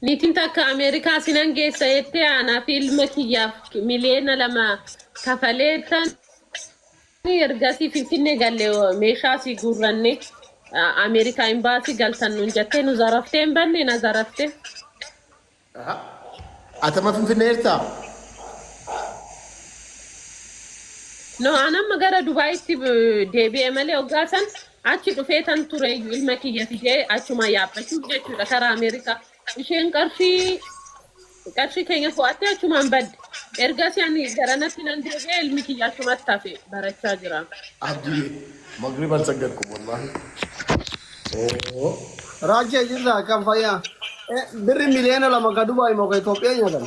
Niitiin takka Ameerikaa sinan geessa jettee aanaa fi ilma kiyyaaf miliyoona lama kafalee tan ergasii Finfinnee galle meeshaa si guurranne Ameerikaa imbaasii galtan nuun jattee nu zaraftee hin banne na zarafte. Aha. Atama Finfinnee jirtaa? No an amma gara Dubaayitti deebi'e malee hoggaa san Achi dhufeetan tureeyyu ilma kiyya fidee achumaa yaabbachuuf jechuudha karaa America. Isheen qarshii qarshii keenya fo'attee achumaan badde. Ergasii ani garanatti nan deebi'e ilmi kiyya achumatti hafe barachaa jira. Abdi magriban saggadku wallahi oo. Raajee jirtaa akkam fayyaa? Eh, Birri miliyoona lama ka Dubaay moo ka Itoophiyaa nyaatan?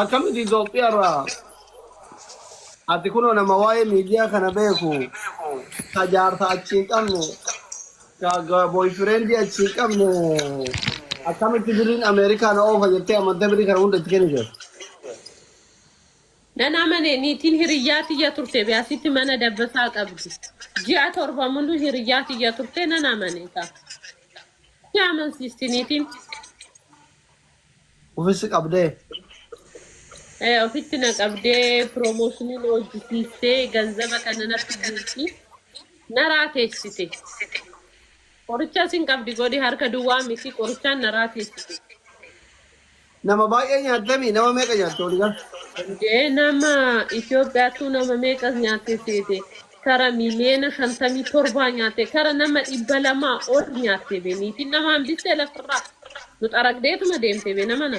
Akkamiti Itoophiyaa irraa ati kunoo nama waa'ee miidiyaa kana beeku ka jaarsa achi hin qabne ka ga- boyfriendii achi hin qabne akkamitti birriin Ameerikaa na oofa jettee amantee birrii kana hunda itti kennite. Nan amane niitiin hiriyyaa tiyya turte biyaasitti mana dabbasaa qabdi. Ji'a torba muluu hiriyyaa tiyya turte nan amane ka. Si amansiisti niitiin. Ufi si qabdee. Eh, ofitti na qabdee promotionii na hojjisiistee ganzaba kana natti guurti naraa teessite qorichaa sin qabdi godhi harka duwwaa miti qorichaan naraa teessite Nama baay'ee nyaattami nama meeqa nyaatte waligaa. Dee nama Itoophiyaattuu nama meeqas nyaatte seete. kara miliyeena shantamii torbaa nyaatte kara nama dhibba lamaa ol nyaatte be niitiin nama hambiste lafirraa nu xaragdeetuma deemte be nama na.